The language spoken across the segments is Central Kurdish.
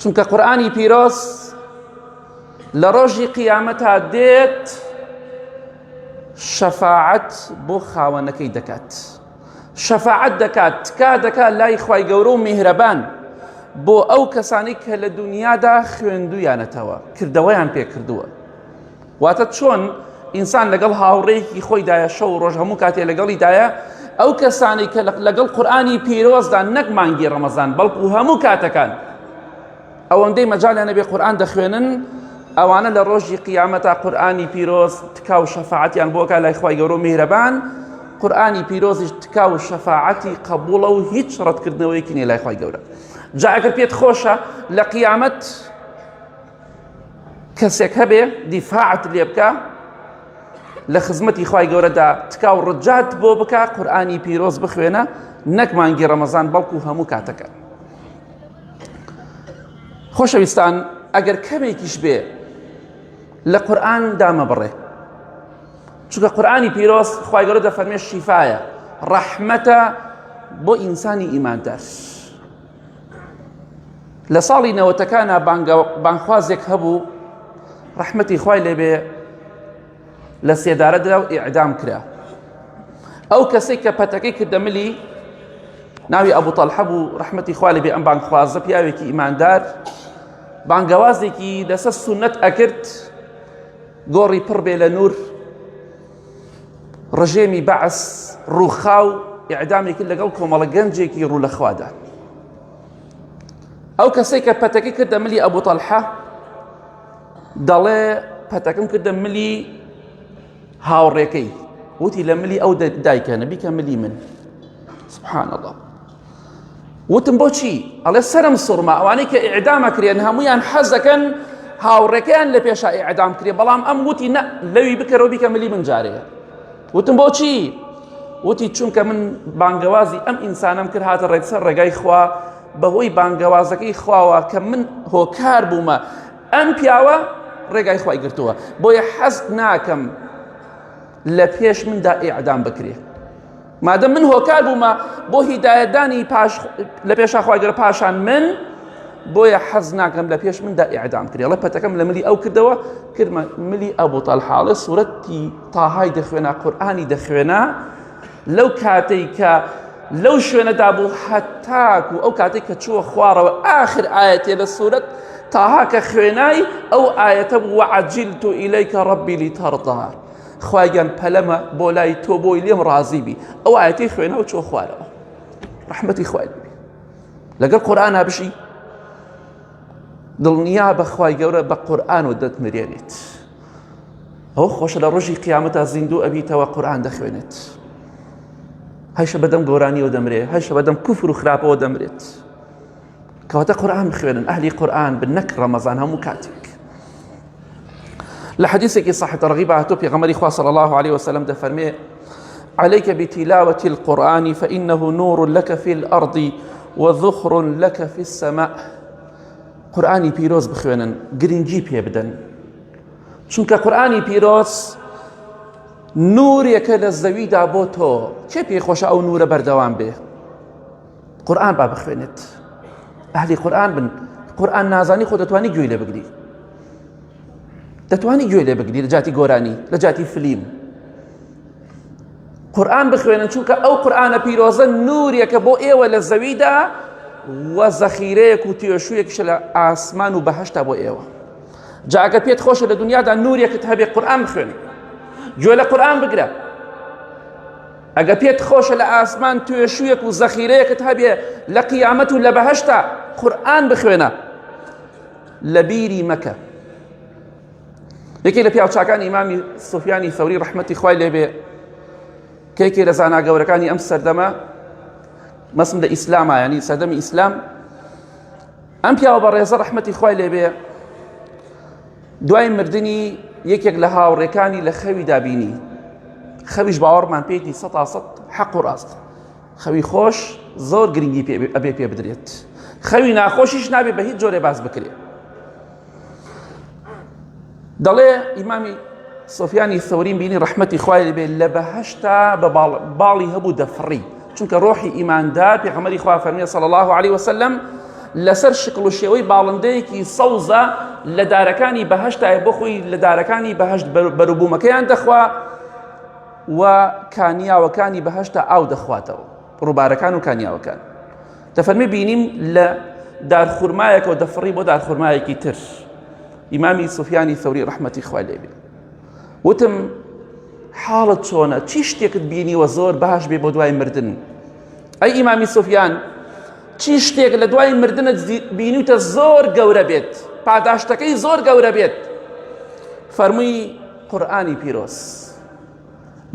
چونکە قورآانی پیرۆز لە ڕۆژی قیامەتا دێت شەفاعەت بۆ خاوەنەکەی دەکات شەفاعەت دەکات تکا دەکات لای خی گەورە و میهرەبان بۆ ئەو کەسانی کە لە دنیادا خوێندویانەتەوە کردەوەیان پێکردووە واتە چۆن ئینسان لەگەڵ هاوڕێیەکی خۆیدایە شەو ڕۆژ هەموو کاتێ لەگەڵیدایە ئەو کەسانی کە لەگەڵ قورآانی پیرۆزدا نەک مانگی ڕەمەزان بەڵکو هەموو کاتەکان ئەوەندەی مەجالیان نەبێ قورآان دەخوێنن ئەوانە لە ڕۆژی قیامەتا قورآانی پیرۆز تکا و شەفاعتیان بۆکە لای خخوای گەورە و میهرەبان قورآانی پیرۆزیش تکا و شەفاعەتی قبولە و هیچ ڕەتکردنەوەیکی نێ لای خخوای گەورە جاگەر پێت خۆشە لە قیامەت کەسێک هەبێ دیفاعت لێ بکە لە خزمەتی خی گەورەدا تکا و ڕجات بۆ بکە قورآانی پیرۆز بخوێنە نەک مانگی ڕەمەزان بەڵکو هەموو کاتەکە خۆشەویستان ئەگەر کەمێکیش بێ لە قورآن دامە بڕێ چونکە قورآانی پیرۆز خی گەورە دەفەرمێ شیفاایە ڕەحمەتە بۆ ئینسانی ئیماندار. لە ساڵی نەوەتەکانە بانخوازێک هەبوو ڕەحمەتی خوای لێبێ لە سێدارە درا و ئیعدام کرا ئەو کەسێک کە پەتەکەی کردە ملی ناوی ئەبوو تەلحە بوو ڕەحمەتی خوای لێبێ ئەم بانخوازە پیاوێکی ئیماندار بانگەوازێکی لەسەر سونەت ئەکرد گۆڕی پڕ بێ لە نور ڕژێمی بەعس ڕووخا و ئیعدامی کرد لەگەڵ کۆمەڵە گەنجێکی ڕوو لە خوادا ئەو کەسێک کە پەتەکە کردە ملی ئەبوو تەلحە دەڵێ پەتەکەم کردە ملی هاوڕێکەی وتی لە ملی ئەو دایکە نەبیکە ملی من سبحان الله وتم بۆچی ئەڵێ سرم سوڕما ئەوانەی کە ئیعدامە کرێن هەمویان حەزەکەن هاوڕێکەیان لە پێشا ئیعدام کرێ بەڵام ئەم وتی نە لەوی بکەرەوە بیکە ملی من جارێ وتم بۆچی وتی چونکە من بانگەوازی ئەم ئینسانم کرد هاتە ڕێکسەر ڕێگای خوا بەهۆی بانگەوازەکەی خواوە کە من هۆکار بوومە ئەم پیاوە ڕێگای خی گرتووە بۆیە حەست ناکەم لە پێش مندا ئیعدام بکرێت مادەم من هۆکار بوومە بۆ هیدایەتدانی پاش لە پێشا خواگەرە پاشان من بۆیە حەز ناکەم لە پێش مندا ئیعدام کرێ لە پەتەکەم لە ملی ئەو کردەوە کردمە ملی ئەبوو تەلحاڵێ سوورەتی تاهای دەخوێنا قورآانی دەخوێنا لەو کاتێک کە لەو شوێنەدا بوو حەتاک و ئەو کاتێک کە چووە خوارەوە ئاخر ئاەتێ لە سوورەت تاهاکە خوێنای ئەو ئاەتە بوو عجیل تو ئیلەیکە ڕبی لی تەڕدار خواگیان پەلەمە بۆ لای تۆ بۆی لێم ڕازی بی ئەو ئاەتی خوێنە و چۆ خوارەوە ڕحمەتی خوای لەگەڵ قورآنا بشی دڵنیا بەخوای گەورە بە قورآن و دەت مرێنێت ئەو خۆشە لە ڕۆژی قیامەتا زیندوو ئەبیتەوە قورآان دەخوێنێت هەشە بەدەم گۆرانیەوە دەمرێت هەشە بەدەم کوفر و خراپەوە دەمرێت. کەواتە قورآن بخوێنن ئەهلی قورآن بن نەک ڕەمەزان هەموو کاتێک لە حەدیثێکی صحیح تەرغیب هاتو پێغەمبەری خوا صلی الله عليه وسلم دەفەرمێ عليك بتلاوة القرآن فإنه نور لك في الأرض وذخر لك في السماء قورآانی پیرۆز بخوێنن گرنگی پێ بدەن چونکە قورآانی پیرۆز نورێکە لە زەویدا بۆ تۆ چێ پێی خۆشە ئەو نورە بەردەوام بێ قورئان با بخوێنێت ئەهلی قورئان بن قورئان نازانی خۆ دەتوانی گوێی لێ بگری دەتوانی گوێ لێ بگری لە جاتی گۆرانی لە جاتی فلیم قورآن بخوێنن چونکە ئەو قورآانە پیرۆزە نورێکە بۆ ئێوە لە زەویدا وە زەخیرەیەک و توێشوویەکشە لە ئاسمان و بەهشتا بۆ ئێوە جاگە پێت خۆشە لە دنیادا نورێکت هەبێ قورآن بخوێن گوێ لە قورآن بگرە ئەگە پێت خۆشە لە ئاسمان توێشویەک و زەخیرەیەکت هەبێ لە قیامەت و لە بەهشتا قورآن بخوێنە لە بیری مەکە یەکێ لە پیاوچکان ئیمامی سوفیانی سەوری ڕحمەتی خوای لێبێ کێکێ لە زانا گەورەکانی ئەم سەردەمە مەسم لە ئیسلامە ینی سەردەمی ئیسلام ئەم پیاوە بە ڕێزە ڕحمەتی خوای لێبێ دوای مردنی یەکێک لە هاوڕێکانی لە خەوی دابینی خەویش باوەڕمان پێیتی سە تا سە حەق و ڕاست خەوی خۆش زۆر گرنگی پێ ئەبێ پێ بدرێت خەوی ناخۆشیش نابێ بە هیچ جۆرێ باس بکرێت دەڵێ ئیمامی سۆفیانی سەورین بینی ڕحمەتی خوای بێ لە بەهشتا بە باڵی هەبوو دەفڕی چونکە ڕۆحی ئیماندار پێغەمەری خوا فەرمیە صلی الله علیه وسلم لەسەر شکڵ و شێوەی باڵندەیەکی سەوزە لە دارەکانی بەهشتای بۆ خۆی لە دارەکانی بەهشت بەروبوومەکەیان دەخوا و کانیاوەکانی بەهشتا ئاو دەخواتەوە ڕووبارەکان و کانیاوەکان دەفەرمی بینیم لە دارخورمایەکەوە دەفڕی بۆ دارخورمایەکی تر ئیمامی سوفیانی سەوری ڕحمەتی خوالێبێ وتم حاڵت چۆنە چی شتێکت بینیوە زۆر باش بێ بۆ دوای مردن ئەی ئیمامی سوفیان چی شتێک لە دوای مردنت بینیتە زۆر گەورە بێت پاداشتەکەی زۆر گەورە بێت فەرمووی قورآانی پیرۆز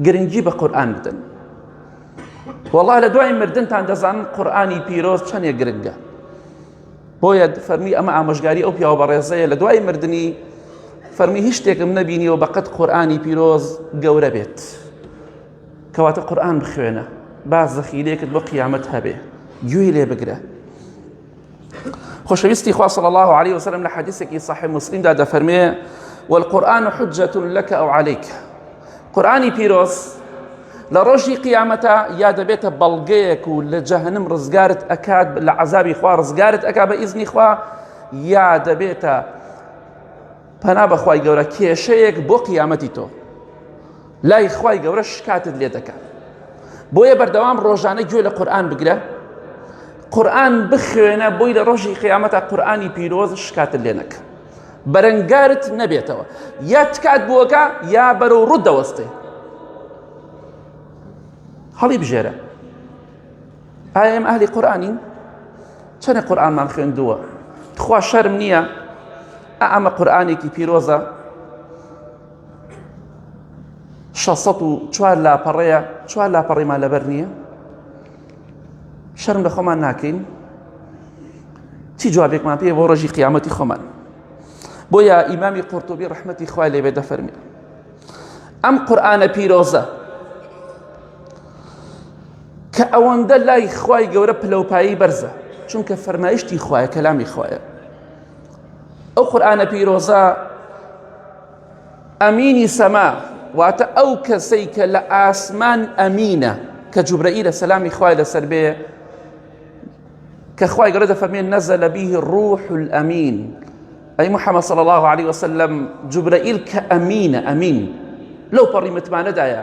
گرنگی بە قورآان بدەن وڵا لە دوای مردنتان دەزانن قورآانی پیرۆز چەندێک گرنگە بۆیە فەرمی ئەمە ئامۆژگاری ئەو پیاوە بەڕێزەیە لە دوای مردنی فەرمی هیچ شتێکم نەبینیەوە بەقەت قورآانی پیرۆز گەورە بێت کەواتە قورآان بخوێنە با زەخیرێکت بۆ قیامەت هەبێ گوێی لێ بگرە خۆشەویستی خوا صلی الله عليه وسلم لە حەدیثێکی صحیح مسلمدا دەفەرمێ والقرآن حجة لك أو عليك قورئانی پیرۆز لە ڕۆژی قیامەتا یا دەبێتە بەڵگەیەک و لە جەهنم ڕزگارت ئەکات لە عذابی خوا ڕزگارت ئەکا بە ئیزنی خوا یا دەبێتە پەنا بەخوای گەورە کێشەیەک بۆ قیامەتی تۆ لای خوای گەورە شکاتت لێ دەکات بۆیە بەردەوام ڕۆژانە گوێ لە قورآن بگرە قورآن بخوێنە بۆی لە ڕۆژی قیامەتە قورآانی پیرۆز شکاتت لێ نەکە بەرەنگارت نەبێتەوە یا تکات بووەکە یا بەرەو ڕوت دەوەستێ هەڵی بژێرە ئایم ئەهلی قورآانین چەنە قورآانمان خوێندووە تخوا شەرم نییە ئەمە قورآانێکی پیرۆزە 16 چوار لاپەڕەیە چوار لاپەڕیمان لەبەر نییە شەرم لە خۆمان ناکەین چی جوابێکمان پێ بۆ ڕۆژی قیامەتی خۆمان بۆیە ئیمامی قورتوبی ڕحمەتی خوای لێبێ دەفەرمی ئەم قورآانە پیرۆزە کە ئەوەندە لای خوای گەورە پلەپایی بەرزە چونکە فەرمایشتی خوایە کەلامی خوایە ئەو قورآانە پیرۆزە ئەمینی سەما واتە ئەو کەسەی کە لە ئاسمان ئەمینە کە جوبرەئیلە سەلامی خوای لەسەر بێ کە خوای گەورە دەفەرمێن نەزە لە بیه ڕوح ئەمین ئەی محەممە صلی الله عليه وسلم جوبرەئیل کە ئەمینە ئەمین لەو پەڕی متمانەدایە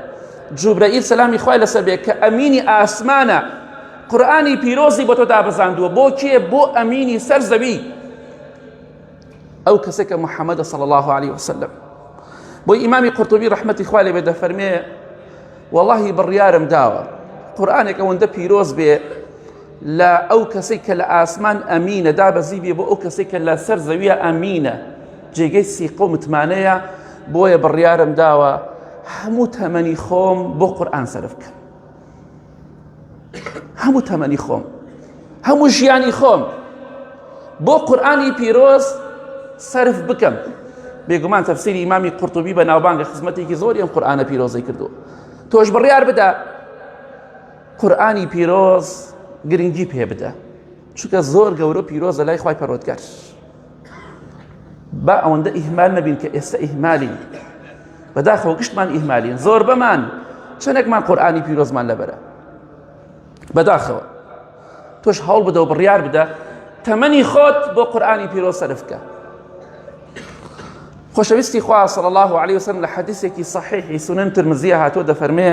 جوبرەئیل سەلامی خوای لەسەر بێ کە ئەمینی ئاسمانە قورآانی پیرۆزی بۆ تۆ دابەزاندووە بۆ کێ بۆ ئەمینی سەر زەوی ئەو کەسێک کە محەممەدە صلی الله عليه وسلم بۆی ئیمامی قرتبی ڕحمەتی خوا لێ بێ دەفەرمێ واللهی بڕیارم داوە قورآانێک ئەوەندە پیرۆز بێ لە ئەو کەسێک کە لە ئاسمان ئەمینە دا بەزی بێ بۆ ئەو کەسێک کە لە سەر زەویە ئەمینە جێگەی سیقە و متمانەیە بۆیە بڕیارم داوە هەموو تەمەنی خۆم بۆ قورآان سەرف بکەم هەموو تەمەنی خۆم هەموو ژیانی خۆم بۆ قورآانی پیرۆز سرف بکەم بێگومان تەفسیری ئیمامی قورتوبی بە ناوبانگە خزمەتێکی زۆری ئەم قورآانە پیرۆزەی کردو تۆش بڕیار بدە قورآانی پیرۆز گرنگی پێ بدە چونکە زۆر گەورە پیرۆزە لای خی پەرۆتگەر با ئەوەندە ئیهمال نەبین کە ئێستا ئیهمالین بەداخەوە گشتمان ئیهمالین زۆر بەمان چەندێکمان قورآانی پیرۆزمان لەبەرە بەداخەوە تۆش هەوڵ بدە و بڕیار بدە تەمەنی خۆت بۆ قورآانی پیرۆ سەرفکە خۆشەویستی خوا صلی الله عليه وسلم لە حەدیثێکی صحیحی سنن ترمزیە هاتۆ دەفەرمێ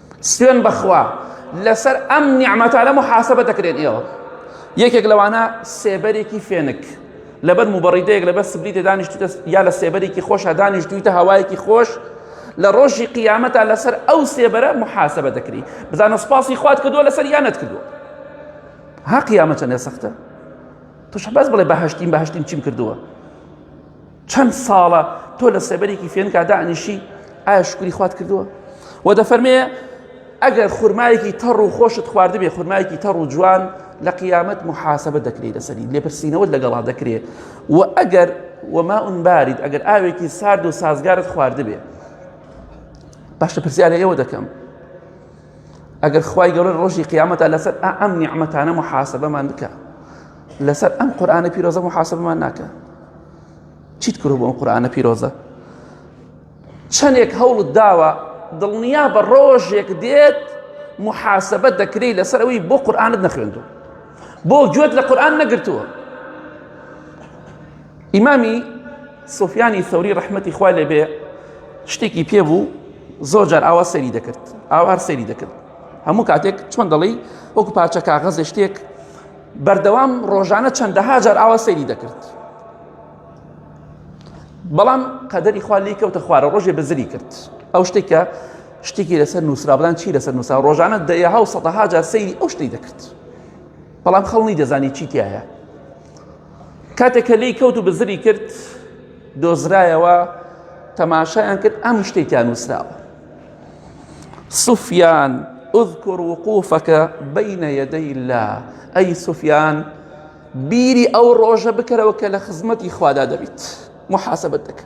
سوێن بەخوا لەسەر ئەم نیعمەتانە محاسبە دەکرێن ئێوە یەکێک لەوانە سێبەرێکی فێنک لەبەر مبڕیدەیەک لەبەر سبریتە دانیشتوتە یا لە سێبەرێکی خۆشە دانیشتویتە هەوایەکی خۆش لە ڕۆژی قیامەتا لەسەر ئەو سێبەرە محاسبە دەکری بزانە سپاسی خوات کردووە لەسەر یانت کردووە ها قیامەتە نێ سەختە توش بەس بڵێ بەهشتیم بەهشتیم چیم کردووە چەند ساڵە تۆ لە سێبەرێکی فێنکا دانیشی ئایا شکری خوات کردووە و دەفەرمێ ئەگەر خورمایەکی تەڕ و خۆشت خواردبێ خورمایەکی تەڕ و جوان لە قیامەت محاسبە دەکرێت لەسەری لێپرسینەوەت لەگەڵا دەکرێت و ئەگەر وما ئونبارید ئەگەر ئاوێکی سارد و سازگارت خواردبێ باشە پرسیارە ئێوە دەکەم ئەگەر خوای گەورە ڕۆژی قیامەتە لەسەر ئەم نیعممەتانە محاسبەمان بکە لەسەر ئەم قورآانە پیرۆزە محاسبمان ناکە چیت کرد بۆ ئەم قورآانە پیرۆزە چەندێک هەوڵت داوە دڵنیا بە ڕۆژێک دێت محاسبە دەکری لەسەر ئەوی بۆ قورآانت نەخوێندو بۆ گوێت لە قورآان نەگرتووە ئیمامی سوفیانی سەوری ڕەحمەتی خوا لێ بێ شتێکی پێ بوو زۆر جار ئاوا سەری دەکرد ئاوار سەری دەکرد هەموو کاتێک چۆن دەڵی وەکو پارچە کاغەزێ شتێک بەردەوام ڕۆژانە چەندەها جار ئاوا سەری دەکرد بەڵام قەدەری خوا لی کەوتە خوارە ڕۆژێ بەزری کرد ئەو شتێکە شتێکی لەسەر نووسرا بڵان چی لەسەر نووسا ڕۆژانە دەیەها و سەدەها جار سەیری ئەو شتی دەکرد بەڵام خەڵنی دەزانی چی تایە کاتێک کە لێی کەوت و بزری کرد دۆزرایەوە تەماشایان کرد ئەم شتێکیان نووسراوە سوفیان اذكر وقوفك بين يدي الله أي سفيان بیری ئەو ڕۆژە بکەرەوە کە لە خزمەتی خوادا دەبیت محاسبەت دەکە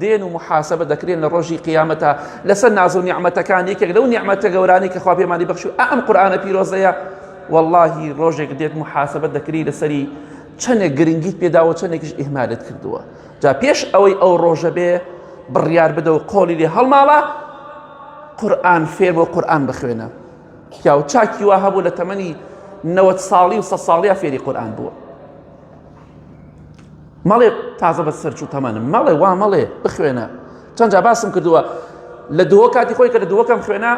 دێن و محاسبە دەکرێن لە ڕۆژی قیامەتە لەسەر ناز و نیعممەتەکان یەکێک لەو نیعممەتە گەورانی کە خوا پێمانی بەخش و ئەم قورآانە پیرۆزەیە واللهی ڕۆژێک دێت محاسبە دەکری لەسەری چەندێک گرنگیت پێداوە چەندێکش ئیهمالت کردووە جا پێش ئەوەی ئەو ڕۆژە بێ بڕیار بدە و قۆلی لێ هەڵماڵە قورآن فێر بۆ قورآن بخوێنە پیاو چاکی وا هەبوو لە تەمەنی نەوەت ساڵی و سە ساڵیا فێری قورآن بووە مەڵێ تازە بە سەرچوو تەمەنم مەڵێ وا مەڵێ بخوێنە چەند جا باسم کردووە لە دووە کاتی خۆی کە لە دووەکەم خوێنە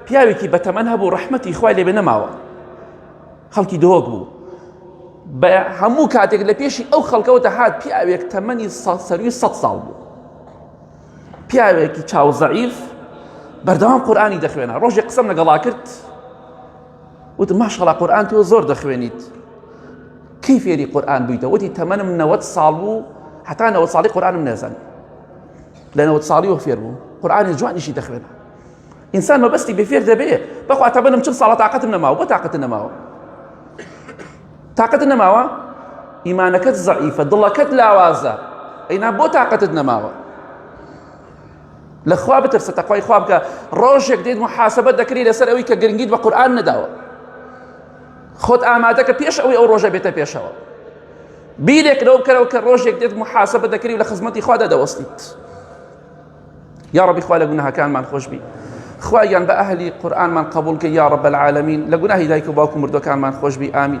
پیاوێکی بە تەمەەن هەبوو ڕەحمەتی خوای لێبێ نەماوە خەڵکی دۆک بوو بە هەموو کاتێک لە پێشی ئەو خەڵکەوە دەهات پیاوێک تەمەنی سەروی سە ساڵ بوو پیاوێکی چاوزەعیف بەردەوام قورآانی دەخوێنە ڕۆژێک قسم لەگەڵا کرد وتم ماشاءالله قورئان تۆ زۆر دەخوێنیت کەی فێری قورئان بوویتە وتی تەمەنم نەوەت ساڵ بوو حتا نەوەت ساڵی قورآنم نێزان لە نەوەت ساڵی و فێر بوو قورآانی جوانیشی دەخوێنە ئینسان مەبەستی بێفێر دەبێ بەخوا تەمەنم چل ساڵە تااقەتم نەماوە بۆ تااقەت نەماوە تااقەت نەماوە ئیمانەکەت زعیفە دڵەکەت لاوازە ئەینا بۆ تااقەتت نەماوە لە خوا بترسە تەقوای خوا بکە ڕۆژێک دێت محاسبەت دەکری لەسەر ئەوی کە گرنگیت بە قورآن نەداوە خۆت ئامادەکە پێش ئەوی ئەو ڕۆژە بێتە پێشەوە بیرێک لەو بکەرەوە کە ڕۆژێک دێت محاسبە دەکری لە خزمەتی خوادا دەوەستیت یا ڕبی خوا لە گوناهەکانمان خۆش بی خوایان بە ئەهلی قورآنمان قبول کە یا ڕب العالمین لە گوناهی دایک و باوکو مردەکانمان خۆش بی ئامین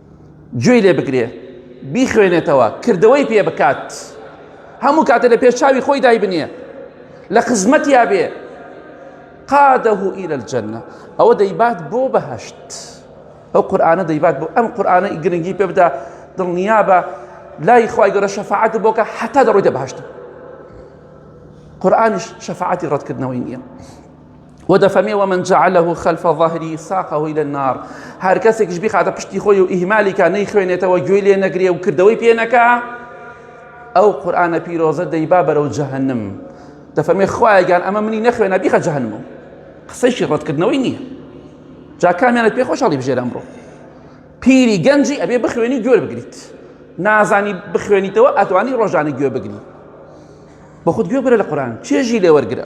گوێی لێ بگرێ بیخوێنێتەوە کردەوەی پێ بکات هەموو کاتە لە پێش چاوی خۆی دایبنیە لە خزمەتیا بێ قادەه إلى الجنە ئەوە دەیبات بۆ بەهشت ئەو قورآانە دەیبات بۆ ئەم قورآانە گرنگی پێ بدا دڵنیا بە لای خی گەۆرە شەفاعت بۆکە حتا دەڕۆی دە بەهشت قورآانیش شەفاعتی ڕەتکردنەوەی نییە ودفمي ومن جعله خلف ظهري ساقه إلى النار هر کەسێک گشت بخاتە پشتی خۆی و ئیهمالیکە نەی خوێنێتەوە گوێی لێ نەگرێ و کردەوەی پێ نەکا ئەو قورآانە پیرۆزە دەیبا بەرەو جەهنم دەفەرمێ خوایگان ئەمە منی نەخوێنە بیخە جەهنم و قسەیشی ڕەتکردنەوەی نییە جاکامیانە پێ خۆشحاڵی بژێر ئەمڕۆ پیری گەنجی ئەبێ بخوێنی گوێر بگریت نازانی بخوێنیتەوە ئەتوانی ڕۆژانی گوێ بگری بە خود گوێ بگرە لە قورآان چێژی لێوەرگرە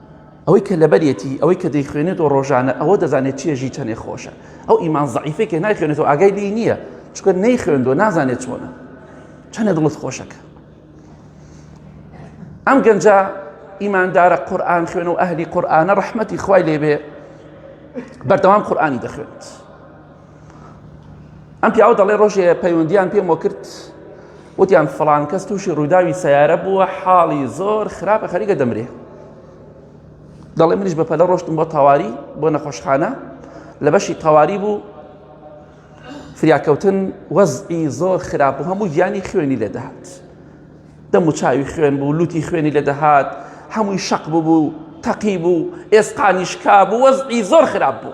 ئەوەی کە لەبەریەتی ئەوەی کە دەیخوێنێت و ڕۆژانە ئەوە دەزانێت چیە ژی چەنێ خۆشە ئەو ئیمان زعیفەی کە نایخوێنێت و ئاگای لی نییە چکە نەی خوێندوە نازانێت چۆنە چەنێ دڵت خۆشەکە ئەم گەنجە ئیماندارە قورآن خوێن و ئەهلی قورآانە ڕحمەتی خوای لێبێ بەردەوام قورآانی دەخوێنێت ئەم پیاوە دەڵێ ڕۆژێ پەیوەندیان پێمەوە کرد وتیان فڵان کەس تووشی ڕووداوی سیارە بووە حاڵی زۆر خراپە خەریکە دەمرێ دەڵێ منیش بە پەلە ڕۆشتم بۆ تەواری بۆ نەخۆشخانە لە بەشی تەواری بوو فریاکەوتن وەزئی زۆر خراپ و هەموو گیانی خوێنی لە دەهات دەم و چاوی خوێن بوو لوتی خوێنی لە دەهات هەمووی شەق ببوو تەقی بوو ئێسقانیشکا بوو وەزئی زۆر خراپ بوو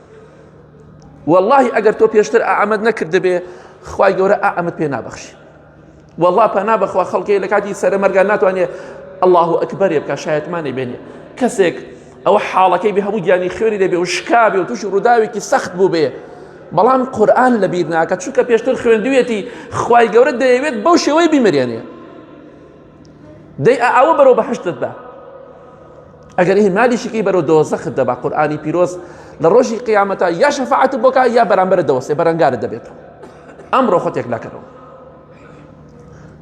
واللهی ئەگەر تۆ پێشتر ئامەد نەکردبێ خی گەورە ئامەد پێ نابەخشی والله پەنا بەخوا خەڵکی لە کاتی سەرە مەرگان ناتوانێت الله ئەکبەرێ بکە شایەتمانی بێنێ کەسێک ئەوە حاڵەکەی بێ هەموو گیانی خوێنی دەبێ و شکابێ و تووشی ڕووداوێکی سەخت بوو بێ بەڵام قورآن لە بیر ناکە چونکە پێشتر خوێندوێتی خی گەورە دەیەوێت بەو شێوەی بیمرێنێ دەی ئەوە بەرەو بەهشتت بە ئەگەر هی مالیشیکی بەرەو دۆزەخت دەبا قورآانی پیرۆز لە ڕۆژی قیامەتە یا شەفاعت بۆکە یا بەرامبەر دەوەسێ بەرەنگارە دەبێت ئەمڕۆ خۆتێک ناکەنەوە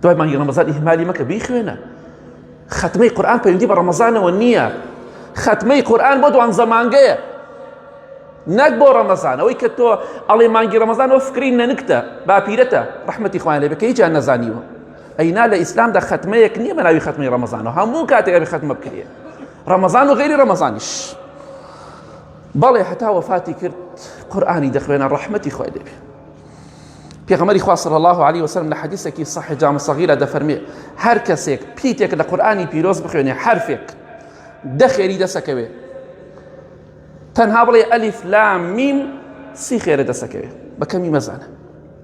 دوای مانگی ڕەمەزان ئیهمالی مەکە بیخوێنە خەتمەی قورآن پەیوەندی بە ڕەمەزانەوە نییە خەتمەی قورآن بۆ دوان زەمانگەیە نەک بۆ ڕەمەزان ئەوەی کە تۆ ئەڵێ مانگی ڕەمەزان ئەو فکری نەنکتە باپیرەتە ڕحمەتی خوان لێ بکە هیچیان نەزانیوە ئەی نا لە ئیسلامدا خەتمەیەک نییە بە ناوی خەتمی ڕەمەزانەوە هەموو کاتێک ئەبێ خەتمە بکرێ ڕەمەزان و غیری ڕەمەزانیش بەڵێ هەتا وەفاتی کرد قورآانی دەخوێنە ڕەحمەتی خوای دەبێ پێغەمەری خوا صلی الله عليه وسلم لە حەدیثێکی صحیح جامع صغیرە دەفەرمێ هەر کەسێک پیتێک لە قورآانی پیرۆز بخوێنێ حرفێک دەخێری دەسەکەوێ تەنها بڵێ ئەلیف لام میم سی خێرە دەسەکەوێ بەکەمی مەزانە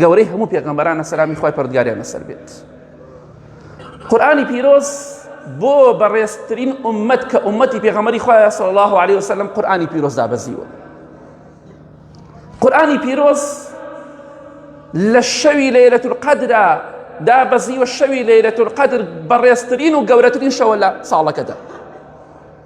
گەورەی هەموو پێغەمبەرانە سەلامی خوای پەردگاریان لەسەر بێت قورآانی پیرۆز بۆ بەڕێزترین ئومەت کە ئومەتی پێغەمەری خوایە سەڵ الله عليه وسلم قورآانی پیرۆز دابەزیوە قورآانی پیرۆز لە شەوی لەیرەت القدرا دابەزیوە شەوی لەیرەت القدر بەڕێزترین و گەورەترین شەوە لە ساڵەکەدا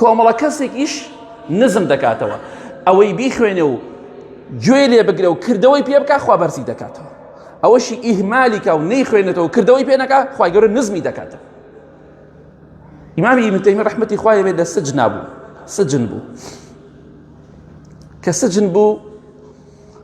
کۆمەڵە کەسێکیش نزم دەکاتەوە ئەوەی بیخوێنێ و گوێ لێ بگرە و کردەوەی پێ بکە خوا بەرزی دەکاتەوە ئەوەشی ئیهمالیکە و نەی خوێنێتەوە کردەوەی پێنەکە خخوای گەورە نزمی دەکاتەوە ئیمامی ئیمتەمی ڕحمەتی خوای بێت لە سجنا بوو سجن بوو کە سجن بوو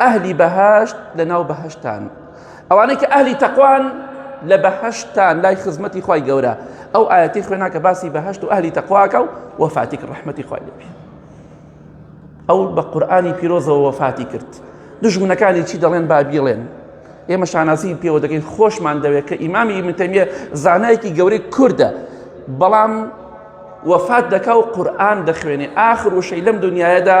ئەهلی بەهشت لە ناو بەهشتان ئەوانەی کە ئەهلی تەقوان لە بەهشتان لای خزمەتی خی گەورە ئەو ئاەتی خوێناکە باسی بەهشت و ئەهلی تەقواکە و وەفاتیک ڕحمەتی خی لێبی ئەو بە قورآانی پیرۆزەوە وەفاتی کرد دژمنەکانی چی دەڵێن بابیڵێن ئێمە شانازی پێوە دەکەین خۆشمان دەوێت کە ئیمامی منتەمیە زانایەکی گەورەی کووردە بەڵام وەفات دەکا و قورآان دەخوێنێ ئاخر وشەی لەم دنیاەدا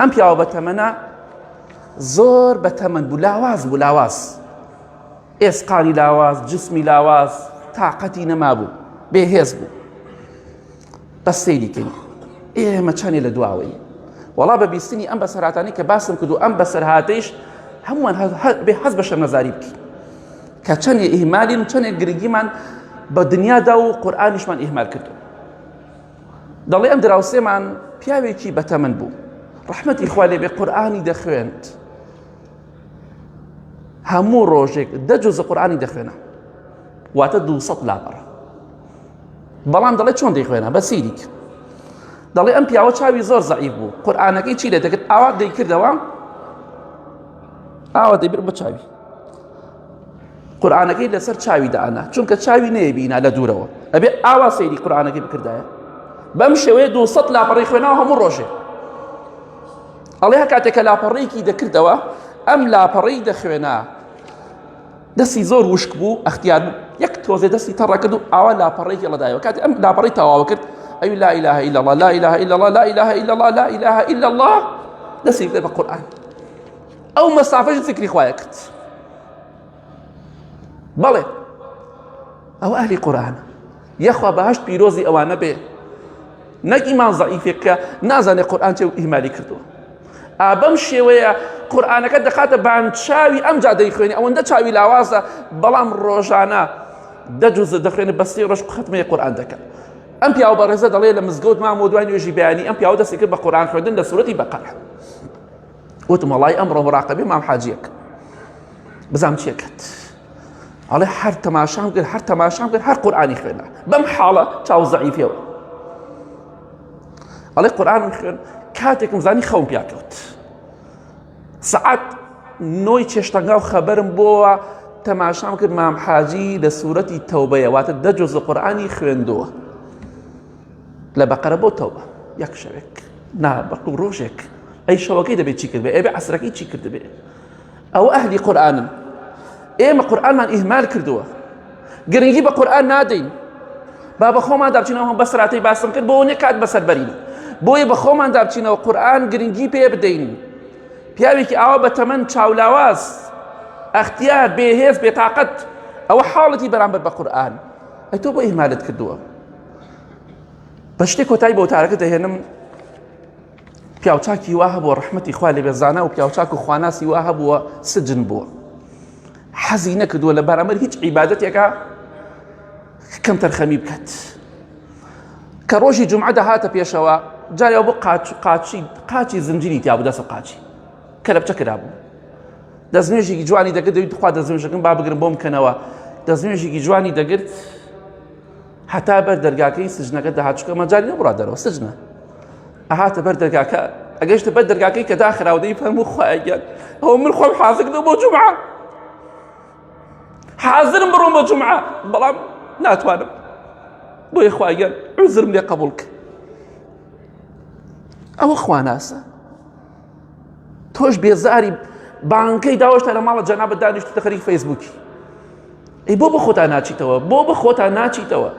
ئەم پیاوە بە تەمەە زۆر بە تەمەند بوو لاواز بوو لاواز ئێسقانی لاواز جسمی لاواز تااقەتی نەما بوو بێهێز بوو بە سەیریکەین ئێمە چەندێ لە دواوەی وڵا بە بیستنی ئەم بەسەراتانی کە باسم کرد و ئەم بەسەرهاتەیش هەمووان بێ حەز بە شەمەزاری بکە کە چەندێ ئیهمالین و چەندێک گرنگیمان بە دنیادا و قورآانیشمان ئیهمال کردو دەڵێ ئەم دراوسێمان پیاوێکی بەتەمەن بوو ڕەحمەتی خوا لێبێ قورآانی دەخوێند هەموو ڕۆژێک دە جۆزە قورآانی دەخوێنە واتە دو لاپەڕ بەڵام دەڵێ چۆن دەیخوێنە بە سیریک دەڵێ ئەم پیاوە چاوی زۆر زعیف بوو قورآانەکەی چی لێ دەکرد ئاوا دەیکردەوە ئاوە دەیبر بە چاوی قورآانەکەی لەسەر چاوی دانا چونکە چاوی نەیەبینا لە دوورەوە ئەبێ ئاوا سەیری قورآانەکەی بکردایە بەم شێوەیە دو سە لاپەڕی خوێناوە هەموو ڕۆژێ ئەڵێ کاتێکە لاپەڕێکی دەکردەوە ئەم لاپەڕی دەخوێنا دەستی زۆر وشک بوو ئەختیار بوو یەک تۆزێ دەستی تەڕەکرد و ئاوا لاپەڕێکی لەدایەوە کاتی ئەم لاپەڕی تەواوە کرد ئەوی لا إله إلا الله لا إله إلا الله لا إله إلا الله لا إله إلا الله دەستی بێ بە قورآن ئەو مەسافەش زیکری خوایە کرد بەڵێ ئەو ئەهلی قورآن یەخوا بەهشت پیرۆزی ئەوانە بێ نەک ئیمان زعیفێکە نازانێت قورآن چێ و ئیمالی کردووە ئابەم شێوەیە قورآانەکە دەخاتە بانچاوی ئەم جادەی خوێنی ئەوەندە چاوی لاوازە بەڵام ڕۆژانە دەجوزە دەخوێنە بەستی ڕۆژ خەتمەیە قورآان دەکەن ئەم پیاو بەڕێزە دەڵێ لە مزگەوت مامۆ دوای نوێژی بەیانی ئەم پیاو دەستی کرد بە قورآان خوێندن لە سوەتی بەقەر وتم وەڵای ئەمڕۆ مراقبی مام حاجیەک بزام چێکت ئەڵێ هەر تەماشام کرد هەر تەماشام کرد هەر قورآانی خوێنە بەم حاڵە چاو زەعیفێەوە ئەڵێ قورآانم خوێن کاتێکم زانی خەو پیاکەوت سعات نۆی چێشتەنگا و خەبەرم بۆوە تەماشام کرد مام حاجی لە سوورەتی تەوبەیە واتە دەجۆز لە قورآانی خوێندووە لە بەقەرە بۆ تەوبە یەک شەوێک نا بەقڵ ڕۆژێک ئەی شەوەکەی دەبێت چی کردێ ئێبێ عسرەکەی چی کردبێ ئەوە ئەهلی قورآانن ئێمە قورآانمان ئیهمال کردووە گرنگی بە قورآان نادەین با بە خۆمان دابچینەوە بە سراتی باسم کرد بۆ نێ کات بەسەر بەرین بۆیە بە خۆمان دابچینەوە قورآان گرنگی پێ بدەین پیاوێکی ئاوا بە تەمەەن چاولاواز ئەختیار بێهێز بێتاقەت ئەوە حاڵەتی بەرامبەر بە قورآان ئەتۆ بۆ ئیهمالت کردووە بە شتێک کۆتای بۆ تارەکە دەهێنم پیاوچاکی وا هەبووە ڕحمەتی خوا لە بێزانە و پیاوچاک و خواناسی وا هەبووە سجن بووە حەزی نەکردووە لە بەرامەر هیچ عیباەتێکە کەم تەرخەمی بکات کە ڕۆژی جمعە دەهاتە پێشەوە جایا بۆ قاچی قاچی زنجیری تیا بوو دەسە قاچی کە لە بچە کرا بوو دەستنوێژێکی جوانی دەگرت دەویت خوا دەستنوێژەکەم با بگرم بۆم کەنەوە دەستنوێژێکی جوانی دەگرت هەتا بەر دەرگاکەی سجنەکە دەهات چکە مەجای نەبڕا دەرەوە سجنە ئەهاتە بەر دەرگاکە ئەگەشتە بەر دەرگاکەی کە داخراودەی فەرمو خۆیان ئەو من خۆم حازردە بۆ جمعە حازرم بڕۆم بە جمعە بەڵام ناتوانم بۆی خواگەن عزرم لێ قبولکە ئەوە خواناسە تۆش بێزاری بانکەی داوەشتا لە ماڵە جەنابەت دانیشتوتە خەریک فەیسبووکی ئەی بۆ بە خۆتان ناچیتەوە بۆ بە خۆتان ناچیتەوە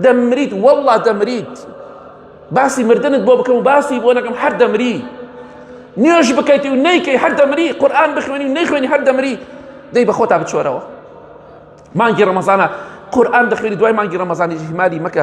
دەمریت وەڵا دەمریت باسی مردنت بۆ بکەم و باسی بۆ نەکەم هەر دەمری نوێژ بکەیت و نیکەی هەر دەمری قورآن بخوێنی و نەیخوێنی هەر دەمری دەی بە خۆتا بچۆرەوە مانگی ڕەمەزانە قورآن دەخوێنی دوای مانگی ڕەمەزانی هیماری مەکە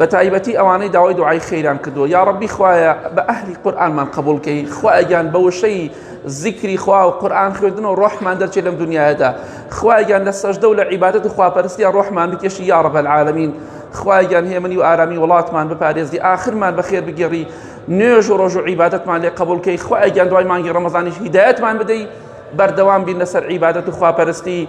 بەتایبەتی ئەوانەی داوای دوعای خێران کردووە یا ڕبی خوایە بە ئەهلی قورآنمان قبولکەی خوایگیان بە وشەی زیکری خوا و قورآن خوێندن و ڕۆحمان دەرچێت لەم دنیادا خوایگیان لە سەژدە و لە عیبادەت و خواپەرستیان ڕۆحمان بکێشی یا ڕب العالمین خوایگیان هێمنی و ئارامی وڵاتمان بپارێزی ئاخرمان بەخێر بگێڕی نوێژ و ڕۆژ و عیبادەتمان لێ قبولکەی خوایگیان دوای مانگی ڕەمەزانیش هیدایەتمان بدەی بەردەوام بین لەسەر عیبادەت و خواپەرستی